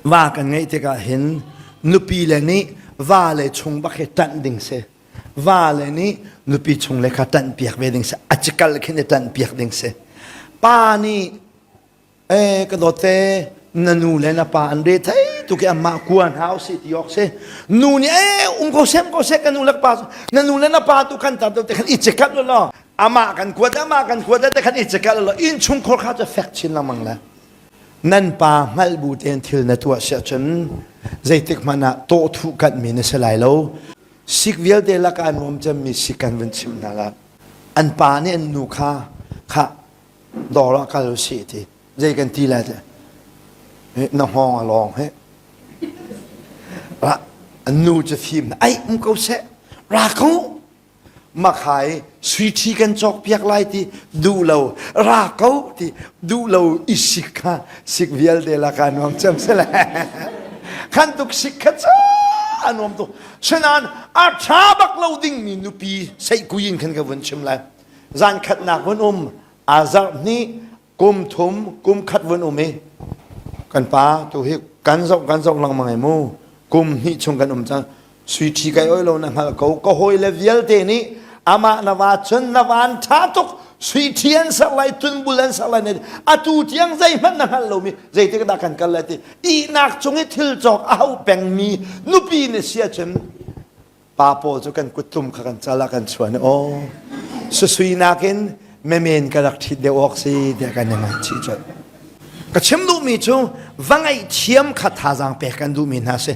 Va kan ngeih tikah hin nupi le nih va le chung bak hi ṭanh ding si. Va le nih nupi chung le kha ṭanh piak ve ding si. A cikal khin i ṭanh piak ding si. Pa nih e ka dawte na nu le na pa an re thei tuk i amah kua hna u si ti awk si nu nih e um ko sem ko sek ka nu le pa na nu le na pa tu kan tar te khan i chekat lo lo amah kan kuat amah kan kuat te khan i chekat lo in chung khor kha cu fek chin lamang le nan pa hngalh bu tein thil na tuah si ahcun zeitik hmanh ah tawhthu kanmi na si lai lo. Sik vialte laka nuam cemmi sik kan vun chim hna la. An pa nih an nu kha kha dawr ah kal u sih ti zei kan ti lai teh na hngawng a lawng he ra an nu cu fim na aih mu ko seh ra ko makhai suiṭhi kan cawkpiak lai ti duh lo ra ko ti duh lo i sik kha sik vialte laka nuam cem sele khan tuk sik kha ca nuam tuk sunan a ṭha bak lo dingmi nupi seikui in khan ka vun chim lai zan khatnak vun um azarh hnih kum thum kum khat vun um i kan pa tu hi kan zong kan zong langmang ai mu kum hnih chung kan um cang sui ṭhi kai oi lo na hngal ko ka hawi le vialte nih amah na va chun na van ṭha tuk sui ṭhi an sak lai tun bul an sak lai ne atu tiang zeihmanh na hngal lomi zeitik dah kan kal lai ti ihnak cung i thil cawk a hau pengmi nupi nih sia cun pa paw cu kan kuttlum kha kan cal ah kan chuan i aw susui nakin memen ka rak ṭhit deuh awk si tiah kan i ngaihchih colh ka chim duhmi cu va ngaih thiam kha thazaang pek kan duhmi hna si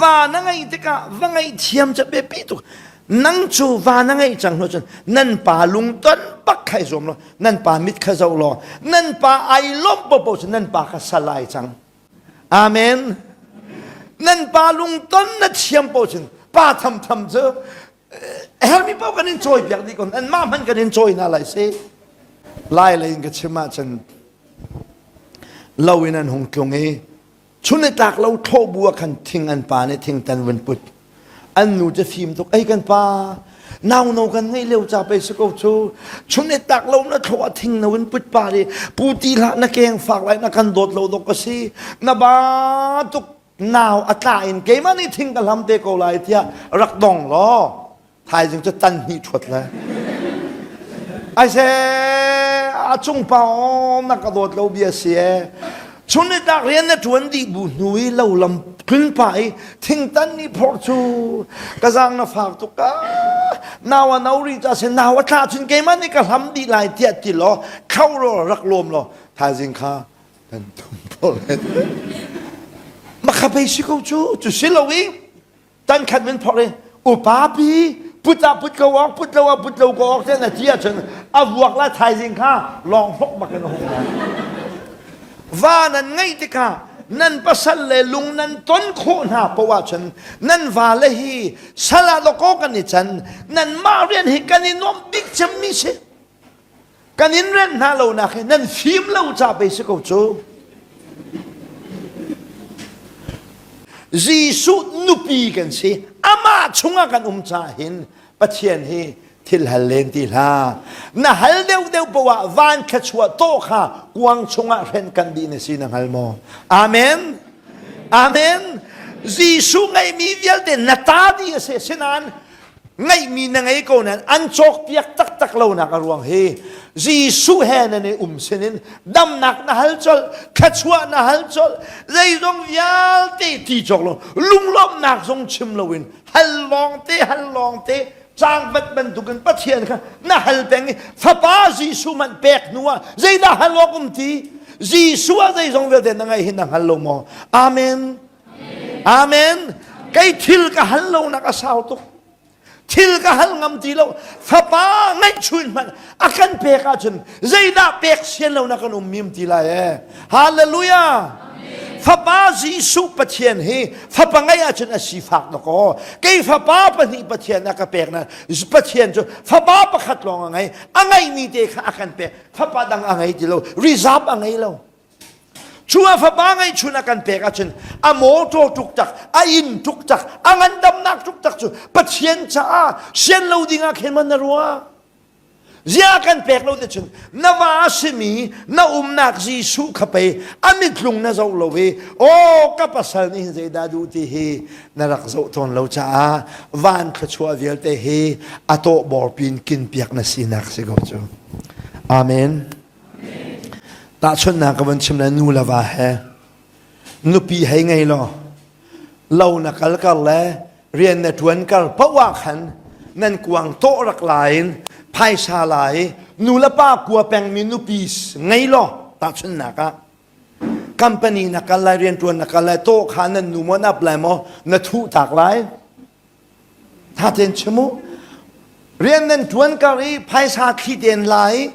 va na ngaih tikah va ngaih thiam ca pe pe tuk nang cu va na ngaih cang lo cun nan pa lungton bak khai zuam lo nan pa mit kha zoh law nan pa ai lawm popo cu nan pa ka sal ai cang Amen. Nan pa lungton na thiam paoh cun pa tham tham cu hermi paoh kan in cawi piak dih kon an mah hman kan in cawi hna lai si lai lei in ka chim ah cun lo in an hung tlung i chun i tlak lo thlawh bu ah khan thing an pa nih thing tan vun put an nu cu fim tuk ei kan pa nau no kan ngei leo ca pei si ko cu chun e tak lo na thlo a thing no in put pa ri pu ti hlah na keng fak lai na kan dawt lo dok ka si na ba tuk nau a tla in keimah nih thing ka hlam te ko lai tiah rak dong law thaizing cu tan hnih ṭhuat le aise a cung pa aw na ka dawt lo bi a si e chun i tak rian na ṭuan dih bu hnu i lo lam phun pa i thingtan ni phor cu ka zang na fak tuk ka nau a no ri ta se nau a tla chun keimah nih ka hlam dih lai tiah ti law khau ro rak lawm law thaizing kha kan tum phor ma kha pei si ko cu cu si lo i Tankhat min phok i upapi put ah put ko awng put lo ah put lo ko awng tiang a ti ahcun a vuak la thaizing kha lawng hlok bak in a hung va nan ngeih tikah nan pasal le lung nan ton khawh hna poah ahcun nan vale hi sal ah lawkaw kan i can nan mah rian hi kan i nuam bik cem mi si kan in rem hna lonak hi nan fim lo ca pei si ko cu Jesuh nupi kan si amah chungah kan um ca hin Pathian hi thil hal len ti hla na hal deuh deuh poah van kha chua to kha kuang chungah hren kan di na si na hngal maw amen amen Jesuh ngeimi vialte na ta di a si sinan ngeihmi na ngei ko nain an cawkpiak taktak lonak a ruang hi Jesuh he nan i um sinin damnak na hal colh thluachuah na hal colh zeizong vialte ti cawk lo lunglawmhnak zong chim loin hal lawngte hal lawngte tlangvat bantuk in Pathian kha na hal peng i fapa Jesuh man pek hnu ah zeidah hal awk um ti Jesuh a zeizong vialte na ngaih hi na hngal lo maw amen Amen. Kei thil ka hal lonak a sau tuk. Thil ka hal ngam ti lo. Fapa ngaihchuin hmanh a kan pek ahcun zeidah pek sian lonak kan um mim ti lai e. Hallelujah. Fapa Jesuh Pathian hi fapa ngai ahcun a si fak na ko. Kei fapa pahnih Pathian a ka pek na Pathian cu fapa pakhat lawng a ngei. A ngeimi te kha a kan pek. Fapa dang a ngei ti lo. Reserve a ngei lo. Chungah fapa ngeihchun a kan pek ahcun a mawtaw tuk tak, a inn tuk tak, a ngandamnak tuk tak cu Pathian caah sian lo dingah khin man na ruah. Zia kan pek lo ticun na va simi na umnak Jesuh kha pei a mitlung na zoh lo i aw ka pasal nih zeidah duh ti hi na rak zoh tawn lo caah van thluachuah vialte hi a tawh bawrpin kinpiak na sinak si ko cu. Amen. Tahchunhnak ka van chim na nu le va he nupi hei ngei law lo na kal kar le rian na ṭuan kar poah khan nan kuang tawh rak lai in phaisa lai nu le pa kua pengmi nupi ngei law tahchunhnak ah company na kal lai rian ṭuan na kal lai tawh kha nan nu maw nap lai maw na thuh tak lai thaten chim u rian nan ṭuan kar i phaisa thli ten la i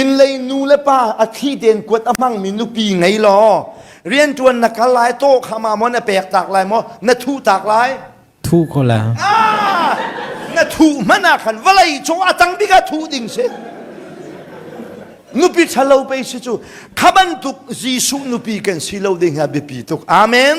inn lei nu le pa a thli ten kuat a hmangmi nupi ngei law rian ṭuan na kal lai taw khama maw na pek tak lai maw na thu tak lai thu ko la ah, na thu hmana ah khan vawlei cung a tang bik a thu ding si nupi ṭhalo pe si cu kha bantuk jesuh nupi kan si lo ding ha biapi tuk amen